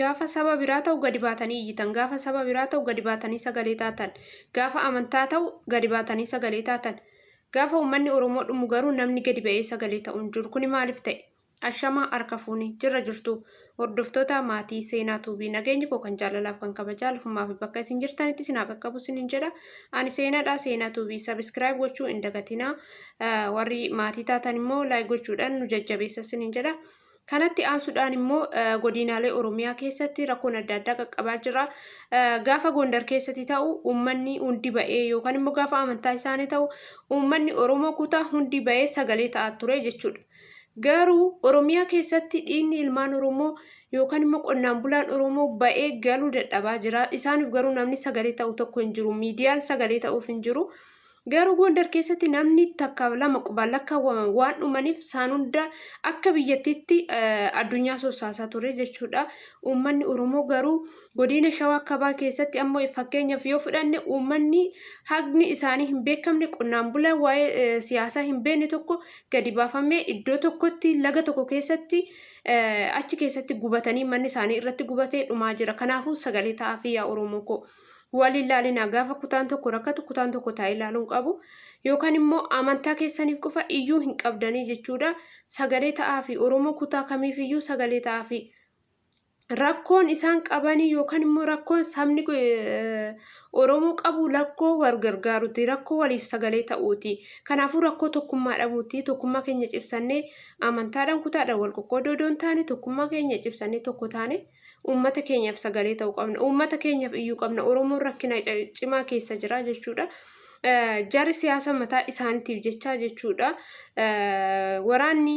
Gaafa saba biraa ta'u gadi baatanii iyyitan. Gaafa saba biraa ta'u gadi baatanii sagalee taatan. Gaafa amantaa ta'u gadi baatanii sagalee taatan. Gaafa uummanni Oromoo dhumu garuu namni gadi ba'ee sagalee ta'u hin jiru. Kuni maaliif ta'e? Ashamaa harka fuuni. Jirra jirtu. Hordoftoota maatii seenaa tuubii nageenyi koo kan jaalalaaf kan kabajaa lafumaa fi bakka isin jirtanitti isin haa qaqqabu isinin jedha. Ani seenaadha seenaa tuubii sabiskiraayib gochuu hin dagatinaa. Warri maatii taatan immoo laayik gochuudhaan nu jajjabeessa isinin jedha. Kanatti aansuudhaan immoo godinaalee Oromiyaa keessatti rakkoon adda addaa qaqqabaa jira. Gaafa Gondar keessatti ta'u uummanni hundi ba'ee yookaan immoo gaafa amantaa isaanii ta'u uummanni Oromoo kutaa hundi ba'ee sagalee ta'aa ture jechuudha. Garuu Oromiyaa keessatti dhiigni ilmaan Oromoo yookaan immoo qonnaan bulaan Oromoo ba'ee galuu dadhabaa jira. Isaaniif garuu namni sagalee ta'u tokko hin jiru. Miidiyaan sagalee ta'uuf hin jiru. Garuu Gondar keessatti namni takka lama qubaan lakkaawwaman waan dhumaniif isaan hunda akka biyyattiitti addunyaa sossaasaa ture jechuudha. Uummanni Oromoo garuu godina Shawaa Kabaa keessatti ammoo fakkeenyaaf yoo fudhanne uummanni haqni isaanii hin beekamne qonnaan bulaa waa'ee siyaasaa hin beekne tokko gadi baafamee iddoo tokkotti laga tokko keessatti achi keessatti gubatanii manni isaanii irratti gubatee dhumaa jira. Kanaafuu sagalee ta'aafii yaa Oromoo koo. wal hin laalinaa gaafa kutaan tokko rakkatu kutaan tokko taa'ee laaluun qabu yookaan immoo amantaa keessaniif qofa iyyuu hin qabdanii jechuudha sagalee ta'aa fi oromoo kutaa kamiif iyyuu sagalee ta'aa fi rakkoon isaan qabanii yookaan immoo rakkoon sabni oromoo qabu rakkoo wal gargaaruuti rakkoo waliif sagalee ta'uuti kanaafuu rakkoo tokkummaa dhabuuti tokkummaa keenya cibsannee amantaadhaan kutaadhaan wal qoqqoodoo doon taane tokkummaa keenya cibsannee tokko taane Uummata keenyaaf sagalee ta'uu qabna. Uummata keenyaaf iyyuu qabna. Oromoon rakkina cimaa keessa jira jechuudha. Jarri siyaasa mataa isaaniitiif jechaa jechuudha. Waraanni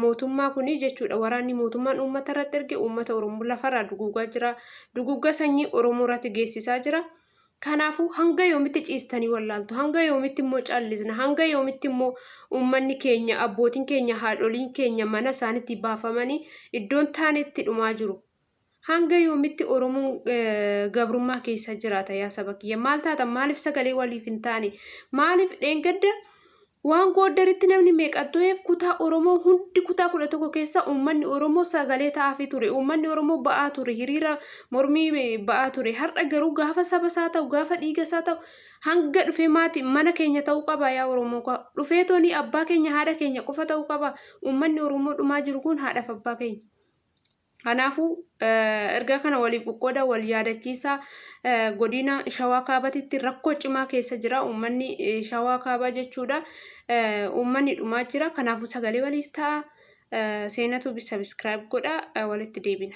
mootummaa kun jechuudha. Waraanni mootummaan uummata irratti erge uummata Oromoo lafarraa duguugaa jira. Duguugaa sanyii Oromoo irratti geessisaa jira. Kanaafuu hanga yoomitti ciistanii wallaaltu? Hanga yoomitti immoo callisna? Hanga yoomitti immoo uummanni keenya, abbootiin keenya, haadholiin keenya mana isaaniitti baafamanii iddoon taanetti dhumaa jiru? Hanga yoomitti Oromoon gabrummaa keessa jiraata yaa saba kiyya? Maal taata? Maaliif sagalee waliif hin taane? Maaliif dheengadda Waan Gooddaritti namni meeqa du'eef kutaa Oromoo hundi kutaa 11 keessa uummanni Oromoo sagalee ta'aafii ture. Uummanni Oromoo ba'aa ture, hiriira mormii ba'aa ture. Har'a garuu gaafa saba isaa ta'u, gaafa dhiiga isaa ta'u hanga dhufee maati mana keenya ta'uu qaba yaa Oromoo koo. Dhufee toonii abbaa keenya haadha keenya qofa ta'uu qaba. Uummanni Oromoo dhumaa jiru kun haadhaaf abbaa keenya. Kanaafuu ergaa kana waliif qoqqooda wal yaadachiisa godina shawaa kaabatitti rakkoo cimaa keessa jira uummanni shawaa kaabaa jechuudha uummanni dhumaa jira kanaafuu sagalee waliif ta'a seenatu sabiskiraayib godha walitti deebina.